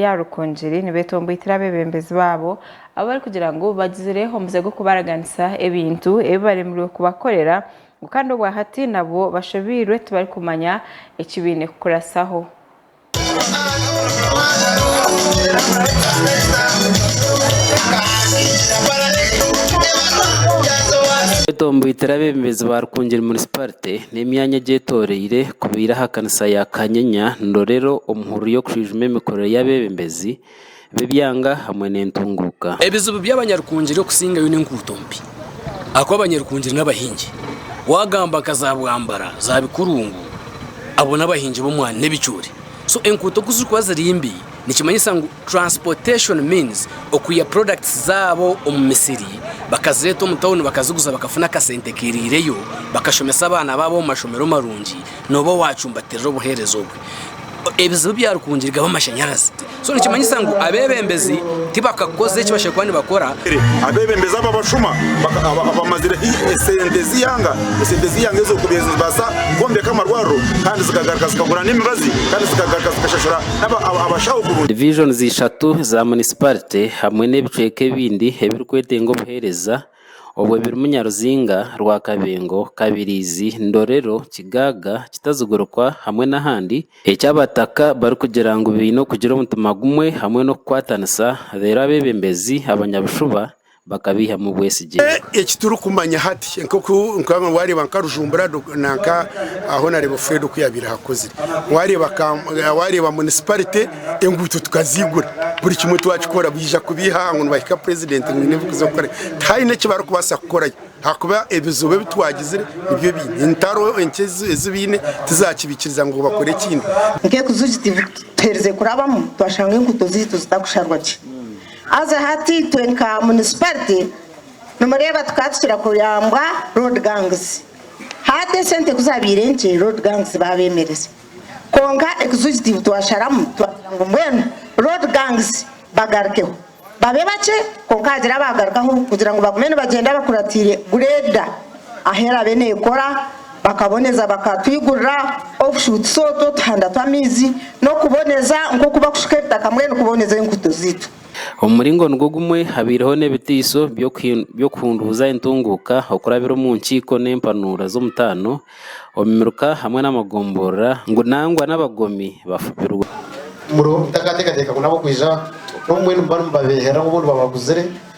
ya Rukungiri nibeeta ombwitire abebembezi baabo abu barikugira ngu bagizire omuze gw'okubaraganisa ebintu ebi baremirwe kubakorera ngu kandi obwa hati nabwo bashobeirwe tibarikumanya eki baine kukurasaho. Beeta ombwitire abebembezi ba Rukungiri Municipality. n'emyanya egyetoroire kubaire aha kanisa ya Kanyenya nirorero omu hururu y'okushwijuma emikorere y'abebembezi b'ebyanga hamwe n'entunguuka. Ebizibu by'abanyarukungiri okusingayo n'enkuuto mbi ahakuba abanyarukungiri n'abahingi wagamba nka za bwambara, za bikurungu abo n'abahingi b'omwani n'ebicoori so enkuuto ku zirikuba ziri mbi. Nikimanyisa ngu transportation means okwiha products zaabo omu misiri bakazireeta omu tawuni bakaziguza bakafuna akasente kiriireyo bakashomesa abaana baabo omu mashomero marungi nooba owaacumbatirira obuheereza obwe ebizibu bya Rukungiri gaba amashanyarazi so nikimanyisa ngu abeebembezi tibakakoze eki bashemereire kuba nibakora. Abeebembezi aba bashuma abamazire hi esente z'eihanga, esente z'eihanga ezo kubaire nizibaasa kwombeka amarwariro kandi zikagaruka zikagura n'emibazi kandi zikagaruka zikashashura Divisions ishatu za munisiparite hamwe n'ebicweka ebindi ebirikwetenga obuheereza obwo birimu Nyaruzinga, Rwakabengo, Kabirizi, Ndorero, Kigaaga, Kitazigurukwa hamwe n'ahandi eki Abataka barikugira ngu baine okugira omutima gumwe hamwe n'okukwatanisa reero abeebembezi abanyabushuba bakabeihamu obwesigye. Eki turikumanya hati nk'oku waareeba nka Rujumbura nanka ahu naareeba Fred oku yaabaire ahakozire, waareeba munisiparite enguuto tukaziigura, buri kimwe twakikora baija kubeiha ngu nibahika purezidenti ngu haine ebirikuza kukora. Tihaine eki barikubaasa kukorayo ahakuba ebizibu ebi twagizire nibyo baine, entaro enkye ezi baine tizaakibikiriza ngu bakore ekindi. Nk'ekiju eki tuherize kurabamu twashanga enguuto zaitu zitakusharwa gye. Haza hati itwe nka municipality nimureeba tukaba tukira kuyambwa road gangs hati esente kuzabaire nkye road gangs babemereza kwonka executive twasharamu twagira ngu mbwenu road gangs bagarukeho babe bakye kwonka hagire abagarukaho kugira ngu bagume nibagyenda bakuratiire grader ahu erabe nekora. Bakaboneza bakatwigurira obushutsi otwo otuhanda tw'amaizi n'okuboneza nk'oku bakushuka ebitaka mbwenu kuboneza enguuto zaitu. Omu muringo nigwo gumwe, habaireho n'ebiteiso by'okuhunduuza entunguuka okurabira omu nkiiko n'empanuura z'omutaano omu miruka hamwe n'amagomborora ngu nangwa n'abagomi bafubirwe. Muriho mutakateekateeka ngu nabo kwija, n'obu mbwenu muba nimubabeehera obundi babaguzire.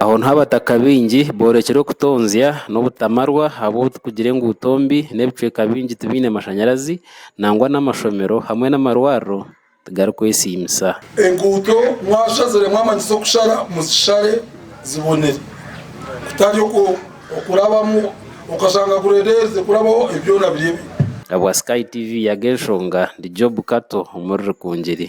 Aho niho Abataka baingi boorekire okutonzya n'obutamarwa ahabw'obu turikugire enguuto mbi n'ebicweka bingi tibiine mashanyarazi nangwa n'amashomero hamwe n'amarwariro tigarikwesiimisa. Enguuto mwashazire mwamanya z'okushara muzishare zibonere kutari okwo okurabamu okashanga gureereerize kurabaho ebi byona biri ebibi. Ahabwa Sky TV yaga enshonga ndi Job Kato omuri Rukungiri.